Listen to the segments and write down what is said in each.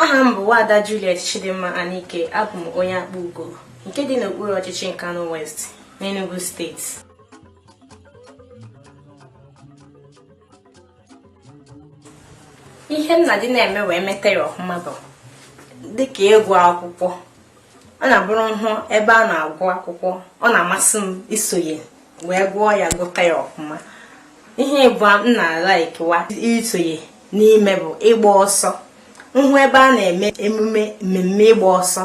aha m bụ Wada Juliet Chidimma Anike abụ m onye Akpugo nke dị n'okpuru ọchịchị Nkanu West n'Enugu steeti ihe m na-adị na-eme wee meta ya ọfụma bụ dịka ịgụ akwụkwọ ọ na-abụrụ m hụ ebe a na-agụ akwụkwọ ọ na-amasị m isonye wee gụọ ya gụta ya ọfụma ihe ịbụọ m na-alikekwa isonye n'ime bụ ịgba ọsọ m hụ ebe a na-eme emume mmemme ịgba ọsọ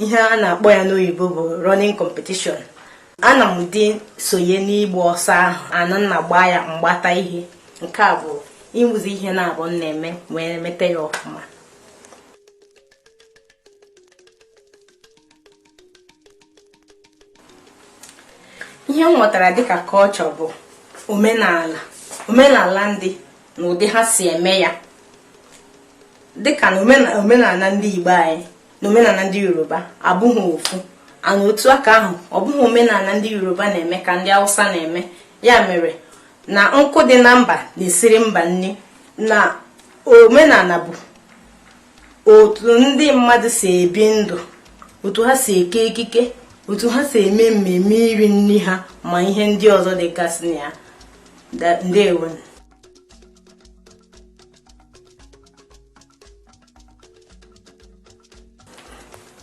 ihe a na-akpọ ya n'oyibo bụ running competition ana m adị esonye n'ịgba ọsọ ahụ and m na-agba ya m gbata ihe nke a bụ ịmụzi ihe naabọ m na-eme wee mete ya ọfụma ihe m ghọtara dịka culture bụ omenala omenala ndị na ụdị ha si eme ya dịka na omenala ndị Igbo anyị na omenala ndị Yoruba abụghị ofu and otu aka ahụ ọ bụghị omenala ndị Yoruba na-eme ka ndị Hausa na-eme ya mere na nkụ dị na mba na-esiri mba nri na omenala bụ otu ndị mmadụ si ebi ndụ otu ha si eke ekike otu ha si eme mmemme iri nri ha ma ihe ndị ọzọ dịgasị na ya ndewo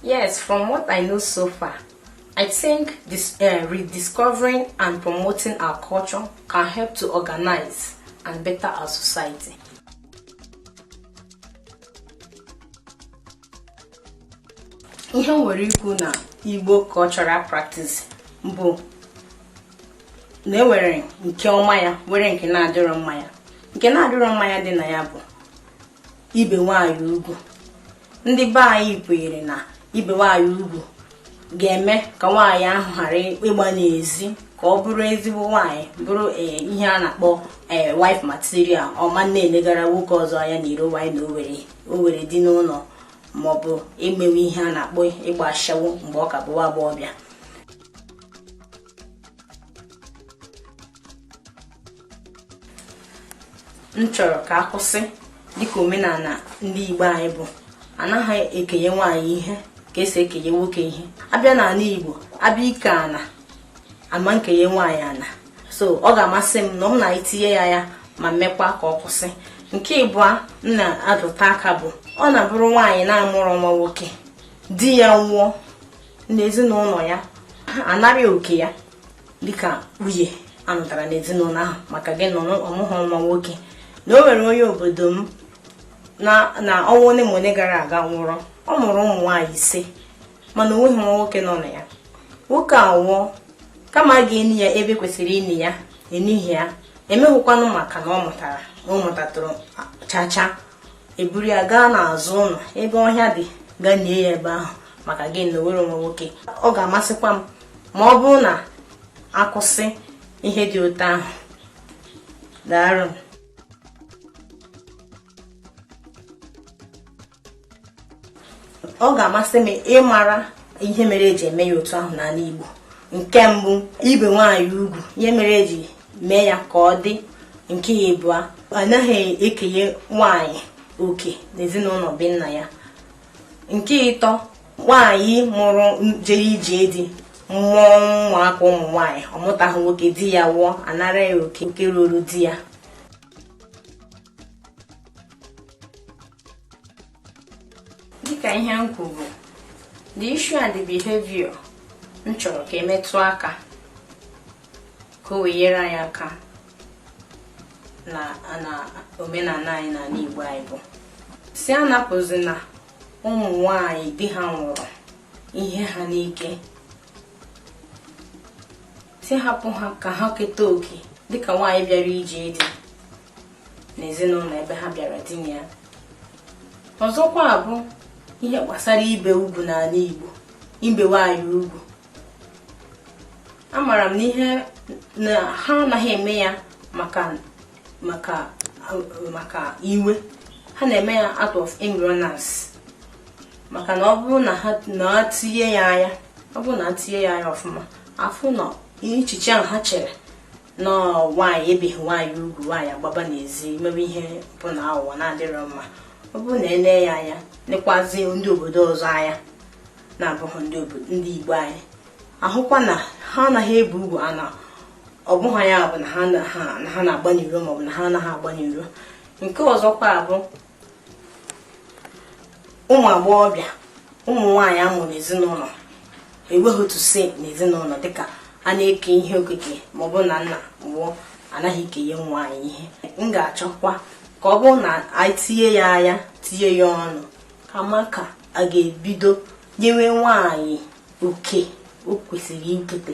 Yes, from what I know so far, I think this, uh, rediscovering and promoting our culture can help to organize and better our society. ihe m nwere ikwu na Igbo cultural practice bụ na enwere nke ọma ya nwere nke na-adịrọ mma ya nke na-adịrọ mma ya dị na ya bụ ibe nwaanyị ugwu ndị be anyị kwenyere na ibe nwaanyị ugwu ga-eme ka nwaanyị ahụ ghara ịgba n'ezi ka ọ bụrụ ezigbo nwaanyị bụrụ eh, ihe a na-akpọ eh, wife material ọ ma na-elegara nwoke ọzọ anya na iro nwaanyị na o nwere di n'ụlọ maọbụ imewe ihe a na-akpọ ịgba ashawo mgbe ọ ka bụ nwa agbọghọbịa m chọrọ ka a kwụsị dịka omenala ndị Igbo anyị bụ anaghị ekenye nwaanyị ihe ka esi ekenye nwoke ihe a bịa n'ala Igbo a bịa ike ana a ma ekenye nwaanyị ana so ọ ga-amasị m na m na-etinye ya anya ma mekwa ka ọ kwụsị nke ịbụọ m na-adụta aka bụ ọ na-abụrụ nwaanyị na-amụrọ nwa nwoke di ya nwụọ na ezinụlọ ya anara oke ya dịka nwunye anụtara n'ezinụlọ ahụ maka gịnị ọ mụghị nwa nwoke na o nwere onye obodo m na ọnwa ole ma ole gara aga nwụrụ ọ mụrụ ụmụ nwaanyị ise mana o nweghị nwa nwoke nọ na ya nwoke a nwụọ kama a ga-eni ya ebe kwesịrị ini ya enighị ya emeghịkwanụ maka na ọ mụtatụrụ chacha eburu ya gaa n'azụ ụlọ ebe ọhịa dị gaa nie ya ebe ahụ maka gịnị o nwerọ nwa nwoke ọ ga-amasịkwa m ma ọ bụrụ na akwụsị ihe dị otu ahụ daarụ ọ ga-amasị m ịmara ihe mere eji eme ya otu ahụ n'ala Igbo nke mbụ ibe nwaanyị ugwu ihe mere eji mee ya ka ọ dị nke ịbụa anaghị ekenye nwaanyị oke n'ezinụlọ be nna ya nke ịtọ nwaanyị mụrụ jere ije di mụọ ụmụaka ụmụ nwaanyị ọ mụtaghị nwoke di ya nwụọ anara ya oke nke ruru di ya dịka ihe m kwuru the issue and the behavior m chọrọ ka emetụ aka ka o wee nyere anyị aka na na omenala anyị na ala Igbo anyị bụ sị anapụzina ụmụ nwanyị di ha nwụrụ ihe ha n'ike sị hapụ ha ka ha keta oke dịka nwaanyị bịara ije di n'ezinụlọ ebe ha bịara di na ya ọzọkwa bụ ihe gbasara ibe ugwu n'ala Igbo ibe nwaanyị ugwu amara m na ihe na ha anaghị eme ya maka maka maka iwe ha na-eme ya out of ignorance maka na ọ bụrụ na ha na tinye ya anya ọ bụrụ na etinye ya anya ọfụma afụ na echiche ahụ ha chere na nwaanyị ebeghị nwaanyị ugwu nwaanyị agbaba n'ezi mewe ihe bụ na aghụghọ na-adịrọ mma ọ bụrụ na ele ya anya nekwazi ndị obodo ọzọ anya na-abụghị ndị Igbo anyị ahụkwa na ha anaghị ebe ugwu ana ọ bụghị ya bụ na ha na-agba n'iro maọbụ na ha anaghị agba n'iro nke ọzọkwa bụ ụmụ agbọghọbịa ụmụ nwaanyị amụrụ n'ezinụlọ enweghị otu si n'ezinụlọ dịka a na-eke ihe okike maọbụ na nna nwụọ anaghị ekenye nwaanyị ihe m ga-achọkwa ka ọ bụrụ na anyị tinye ya anya tinye ya ọnụ ka a ma ka a ga-ebido nyewe nwaanyị oke o kwesịrị ikete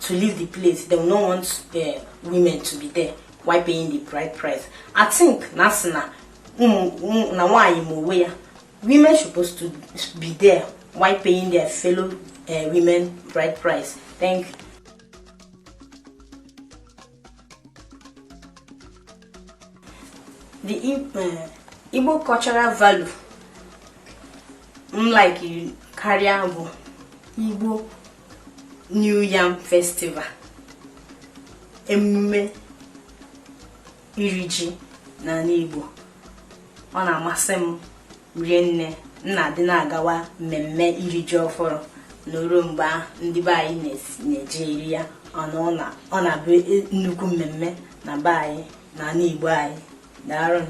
to leave the place they will not want the women to be there why paying the bride price i think na asị na na nwaanyị ma onwe ya women supposed to be there why paying their fellow uh, women bride price thank you the eh, Igbo cultural value m like karịa bụ Igbo New Yam Festival emume iri ji n'ala Igbo ọ na-amasị m rie nne m na-adị na-agawa mmemme iri ji ọfụrụ na o ruo mgbe ahụ ndị be anyị na-esi- na-eji eri ya n'ụlọ ọ na-abụ e- nnukwu mmemme na be anyị na ala igbo anyị daalụ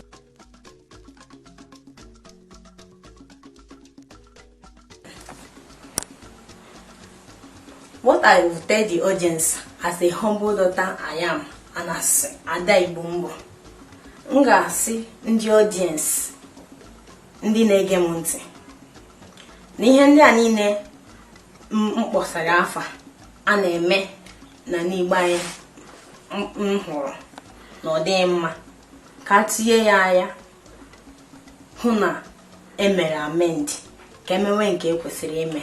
What I will tell the audience as a humble daughter I am and as Ada Igbo m bụ m ga-asị ndị audience ndị na-ege m ntị na ihe ndị a niile m kpọsara afa a na-eme n'ana Igbo anyị m hụrụ na ọ dịghị mma ka e tinye ya anya hụ na e mere amend ka e mewe nke e kwesịrị ime